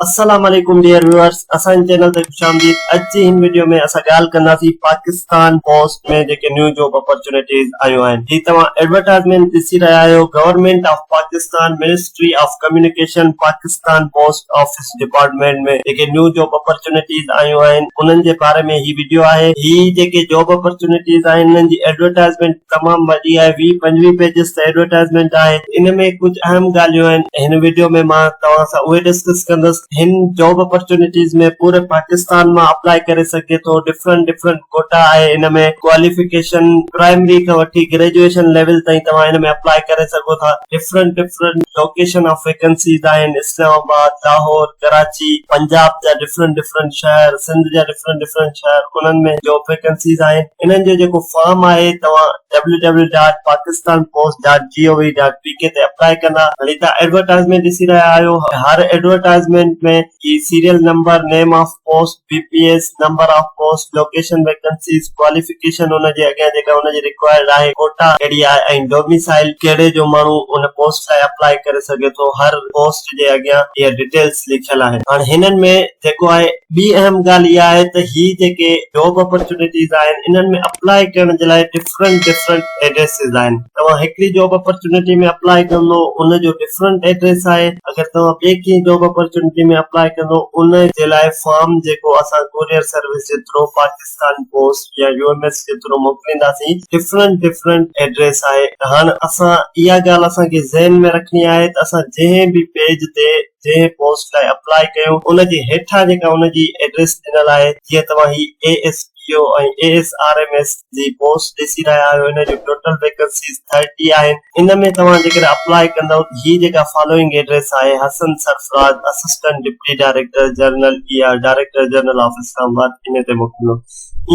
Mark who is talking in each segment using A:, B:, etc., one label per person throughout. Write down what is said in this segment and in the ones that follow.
A: السلام عليڪم dear viewers اسان جي چينل تي خوش آمديد اڄ جي هن ويڊيو ۾ اسان ڳالهه ڪنداسين پاڪستان پوسٽ ۾ جيڪي نيو جاب اپرچونيٽيز آيون آهن جي توهان ايڊورٽائزمينٽ ڏسي رهيا آهيو government of Pakistan ministry of communication Pakistan post office department ۾ جيڪي نيو جاب اپرچونيٽيز آيون آهن انهن جي باري ۾ هي ويڊيو آهي هي جيڪي جاب اپرچونيٽيز آهن انهن جي ايڊورٽائزمينٽ تمام وڏي آهي ويهه پنجويهه پيجز ته ايڊورٽائزمينٽ آهي ان ۾ ڪجهه اهم ڳالهيون آهن هن وڊيو ۾ مان توهان سان اهي ڊسڪس ڪندس هن جاب اپرچونيٽيز ۾ پوري پاڪستان مان اپلائي ڪري سگهجي ٿو ڊفرنٽ ڊفرنٽ ڪوٽا آهي ان ۾ ڪواليفڪيشن پرائمري کان وٺي گريجوئيشن ليول تائين توهان ان ۾ اپلائي ڪري سگهو ٿا different different location of vacancies آهن اسلام آباد لاهور ڪراچي پنجاب جا ڊفرنٽ ڊفرنٽ شهر سنڌ جا ڊفرنٽ ڊفرنٽ شهر انهن ۾ جاب ويڪنسيز آهن انهن جو جيڪو فارم آهي توهان W W dot Pakistan post dot G O V dot P K تي اپلائي ڪندا هلي توهان ايڊورٽائزمينٽ ڏسي رهيا آهيو هر ايڊورٽائزمينٽ ۾ جي serial number name of post B P S number of post location vacancies qualification ان جي اڳيان جيڪا ان جي رڪوائرڊ آهي ڪوٽا ڪهڙي آهي ۽ ڊوميسائل ڪهڙي جو ماڻهو ان پوسٽ لاء اپلائي ڪري سگهي ٿو هر پوسٽ جي اڳيان اها ڊيٽيل لکيل آهن. هاڻ هنن ۾ جيڪو آهي ٻي اهم ڳالهه اها آهي ته هي جيڪي جاب اپرچونيٽيز آهن انهن ۾ اپلائي ڪرڻ جي لاء ڊفرنٽ ڊفرنٽ ايڊريسز آهن توهان هڪڙي جاب اپرچونيٽي ۾ اپلائي ڪندو ان جو ڊفرنٽ ايڊريس آهي اگر توهان ٻي ڪنهن جاب اپرچونيٽي ۾ اپلائي ڪندو ان جي لاء فارم جيڪو اسان ڪوريئر سروس جي ٿرو پاڪستان پاڪستان پوسٽ يا يو ايم ايس جي ٿرو موڪلينداسين ڊفرنٽ ڊفرنٽ ايڊريس آهي هاڻ اسان اها ڳالهه اسان کي ذهن ۾ رکڻي آهي ته اسان جنهن به پيج تي جنهن پوسٽ لاء اپلائي ڪيون ان جي هيٺان جيڪا ان جي ايڊريس ڏنل آهي جيئن توهان هي A S P O ۽ A S R M S جي پوسٽ ڏسي رهيا آهيو ان جون ٽوٽل ويڪنسيز ٿرٽي آهن ان ۾ توهان جيڪڏهن اپلاء ڪندؤ ته هي جيڪا فالوئنگ ايڊريس آهي، Hassan Sarfraz, assistant deputy director general A R, director general of Islamabad, ان تي موڪليندو.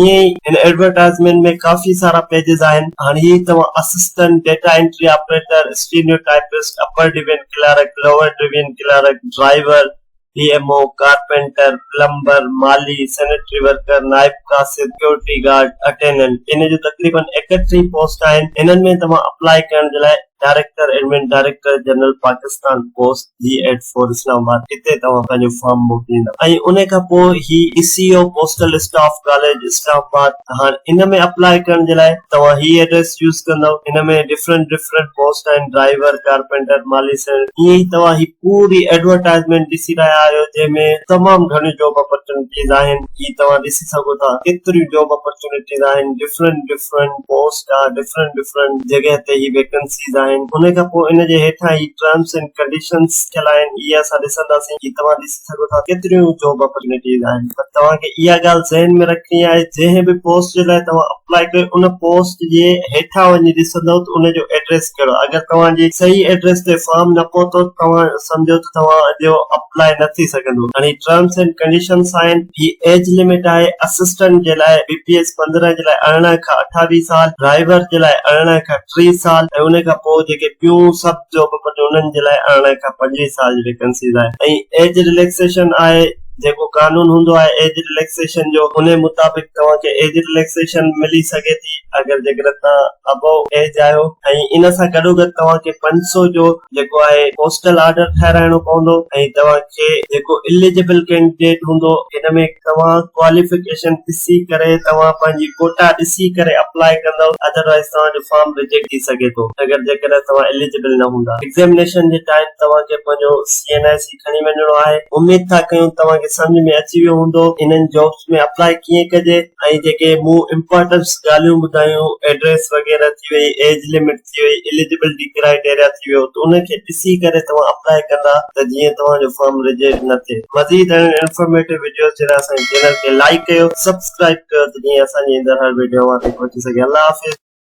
A: ائين ئي هن ايڊورٽائيزمينٽ ۾ ڪافي سارا پيجز آهن. هاڻ هي توهان assistant data entry operator, steno typist, upper division clerk, lower division clerk, driver, P M O, carpenter, plumber, مالي، سينيٽري ورڪر، نائب قاصد، سڪيورٽي گارڊ، اٽينڊنٽ ان جون تقريبن ايڪٽيهه پوسٽ آهن، انهن ۾ توهان اپلائي ڪرڻ جي لاء director admin director general Pakistan post G eight four Islamabad هتي توهان پنهنجو فارم موڪليندا ۽ ان کان پوء هي A C O postal staff college Islamabad ته هاڻ ان ۾ اپلائي ڪرڻ جي لاء توهان هي ايڊريس يوز ڪندؤ ان ۾ ڊفرنٽ ڊفرنٽ پوسٽ آهن ڊرائيور، ڪارپينٽر، مالي سينيٽري ائين ئي توهان هي. ڪوڙ ئي ايڊورٽائيزمينٽ ڏسي رهيا آهيو جنهن ۾ تمام گهڻيون جاب اپرچونٽيز آهن جي توهان ڏسي سگهو ٿا ڪيتريون جاب اپرچونٽيز آهن ڊفرنٽ ڊفرنٽ پوسٽ آهي ڊفرنٽ ڊفرنٽ جڳهه تي هي ويڪنسيز آهن ان کان پوء ان جي هيٺان هي ٽرمس اينڊ ڪنڊيشنز ٿيل آهن اهي اسان ڏسنداسين جي توهان ڏسي سگهو ٿا ڪيتريون جاب اپرچونٽيز آهن پر توهان کي اها ڳالهه ذهن ۾ رکڻي آهي جنهن به پوسٽ جي لاء توهان اپلائي ڪريو ان پوسٽ جي هيٺان وڃي ڏسندو ته ان جو ايڊريس ٽيڪسٽ ڪريو اگر توهان جي صحيح ايڊريس تي فارم نه پهتو ته توهان سمجهو ته توهان جو اپلاء نه ٿي سگهندو گهڻي ٽرمس اينڊ ڪنڊيشنس آهن هي ايج لمٽ آهي اسسٽنٽ جي لاء بي پي ايس پندرهن جي لاء ارڙهن کان اٺاويهه سال ڊرائيور جي لاء ارڙهن کان ٽيهه سال ۽ ان کان پوء جيڪي ٻيون سڀ جابون ٿيون انهن جي لاء ارڙهن کان پنجويهه سال جي ويڪنسيز آهي ۽ ايج رليڪسيشن آهي جيڪو قانون هوندو آهي ايج رليڪسيشن جو انهي مطابق توهان کي ايج رليڪسيشن ملي سگهي ٿي اگر جيڪڏهن توهان ابو ايج آهيو ۽ ان سان گڏوگڏ توهان کي پنج سؤ جو جيڪو آهي پوسٽل آرڊر ٺهرائڻو پوندو ۽ توهان کي جيڪو اليجبل ڪينڊيڊيٽ هوندو ان ۾ توهان ڪواليفڪيشن ڏسي ڪري توهان پنهنجي ڪوٽا ڏسي ڪري اپلائي ڪندؤ ادروائيز توهان جو فارم ريجيڪٽ ٿي سگهي ٿو اگر جيڪڏهن توهان اليجبل نه هوندا ايگزيمنيشن جي ٽائيم توهان کي پنهنجو سي اين ايس ۾ کڻي وڃڻو آهي اميد ٿا ڪيون توهان کي سمجهه ۾ اچي ويو هوندو انهن جابس ۾ اپلاء ڪيئن ڪجي ۽ جيڪي مون امپارٽنس ڳالهيون ٻڌايون ايڊريس وغيره ٿي وئي ايج لمٽ ٿي وئي اليجبلٽي ڪرائيٽيريا ٿي ويو ته انهن کي ڏسي ڪري توهان اپلاء ڪندا ته جيئن توهان جو فارم ريجيڪٽ نه ٿئي مزيد اهڙين انفارميٽو وڊيوز جي لاء اسان جي چينل کي لائيڪ ڪيو سبسڪرائيب ڪيو ته جيئن اسان جي ايندڙ هر وڊيو اوهان تائين پهچي سگهي الله حافظ.